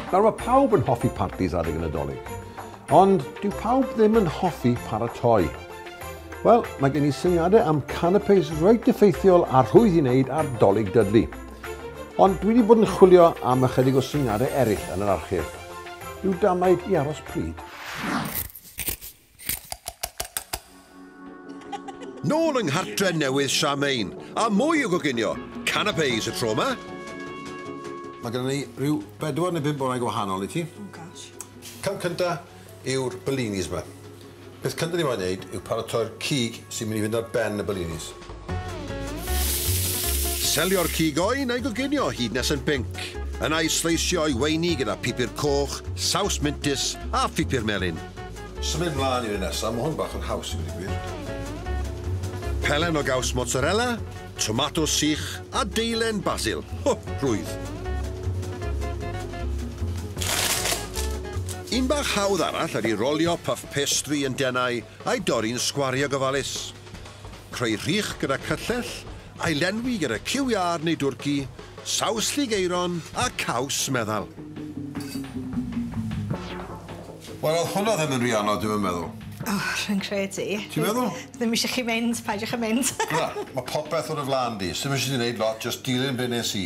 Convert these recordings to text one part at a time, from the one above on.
Nawr mae pawb yn hoffi partis adeg y Nadolig, ond dyw pawb ddim yn hoffi paratoi. Wel, mae gen i syniadau am canapes reit effeithiol a rhwydd i wneud ar dolig dydlu. Ond dwi wedi bod yn chwilio am ychydig o syniadau eraill yn yr archif. Rhyw damaid i aros pryd. Nôl yng nghartre newydd Charmaine, a mwy o goginio! Canapés y tro 'ma! Mae gyda ni rhyw bedwar neu bump orau gwahanol i ti. Oh gosh. Cam cynta yw'r bellinis 'ma. Peth cynta ni moyn neud yw paratoi'r cig sy'n mynd i fynd ar ben y bellinis. Selio'r cig oen a'i goginio hyd nes yn binc. Yna i sleisio o'i weini gyda phupur coch, saws mintys a phupur melyn. Symud mlaen i'r un nesaf, mae hwn bach yn haws i fod yn gwir. Pelen o gaws mozzarella, tomatos sych a deilen basil. Ho! Rhwydd! Un bach hawdd arall ydy rolio puff pastry yn denau a'i dorri'n sgwariau gofalus. Creu rhych gyda cyllell, ailenwi gyda ciw iâr neu dwrci, saws llig aeron a caws meddal. Wel, oedd hwnna ddim yn rhy anodd, dwi'm yn meddwl. O, rwy'n credu. Ti'n meddwl? Ddim eisiau chi mynd, paidiwch â mynd. Na, mae popeth ar y flaen di. Sdim eisiau ti wneud lot, jyst dilyn be nes i.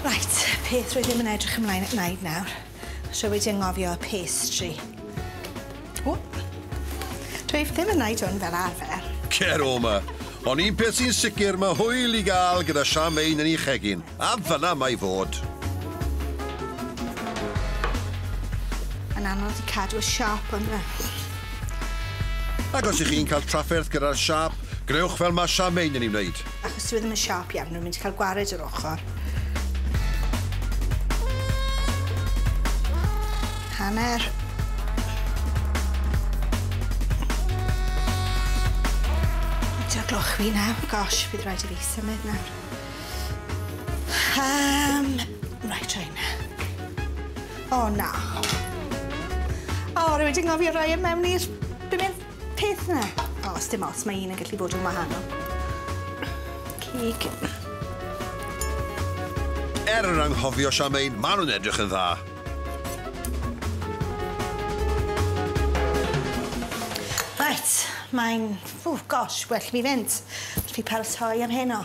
Reit, y peth rwy ddim yn edrych ymlaen at wneud nawr, os rwy wedi anghofio y pastry. O! Dwi ddim yn neud hwn fel arfer. Cer o 'ma. Ond un peth sy'n sicr, mae hwyl i gael gyda siam ein yn ei chegin. A fan'na mae fod. Mae'n anodd i cadw y siâp yma. Ac os ych chi'n cael trafferth gyda'r siâp, gwnewch fel mae siam ein yn ei wneud. Achos dyw e ddim yn siâp iawn, rwy'n mynd i cael gwared yr ochr. Hanner. Dy'r gloch fi nawr. Gosh, bydd rhaid i fi symud nawr. Um, right, try na. O, na. O, rwy'n wedi ngofio rhoi e mewn i'r... Beth Peth 'na. O, sdim ots, mae un yn gallu bod yn wahanol. Cig. Er yn anghofio Charmaine, maen nhw'n edrych yn dda. Reit, mae'n, ww, gosh, well fi fynd. Fi paratoi am heno.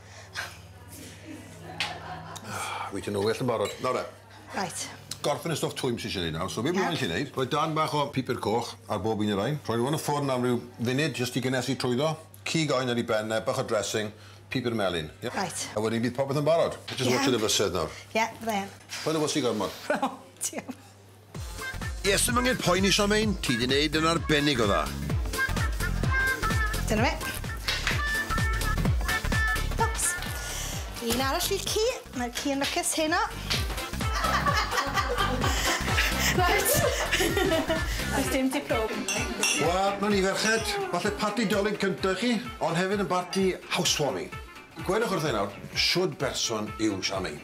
Wyt ti'n well yn barod. Nawr de. Reit. Gorffen y stwff twym sy isie neud nawr so be' fi isie neud rhoi darn bach o pupur coch ar bob un o rain rhoi n'w yn y ffwrn am ryw funud jyst i gynnesu trwyddo cig oen ar i ben e bach o dressing pupur melyn ie? Reit. A wedyn bydd popeth yn barod. Jyst watshiad y fysedd nawr. Ie byddai yn. Paid â wysi gormod. Diolch. Yes, ddim angen poeni Charmaine, ti 'di neud yn arbennig o dda. Dyna fe. Oops. Un arall i'r ci, mae'r ci yn lwcus heno. Reit. Does dim ti prob. Wel, na ni ferched, falle parti Dolig cynta chi, ond hefyd yn barti housewarming. Gwedwch wrtha i nawr, shwd berson yw Charmaine?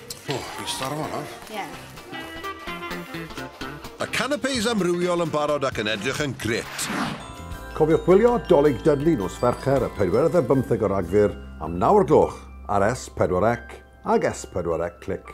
O, oh, fi'n starfo nawr. Ie. Yeah. Y canapes amrywiol yn barod ac yn edrych yn gret. Cofiwch gwylio Dolig Dudley nos Fercher y 4 a 15 o Ragfyr am 9 o'r gloch ar S4C ag S4C Click.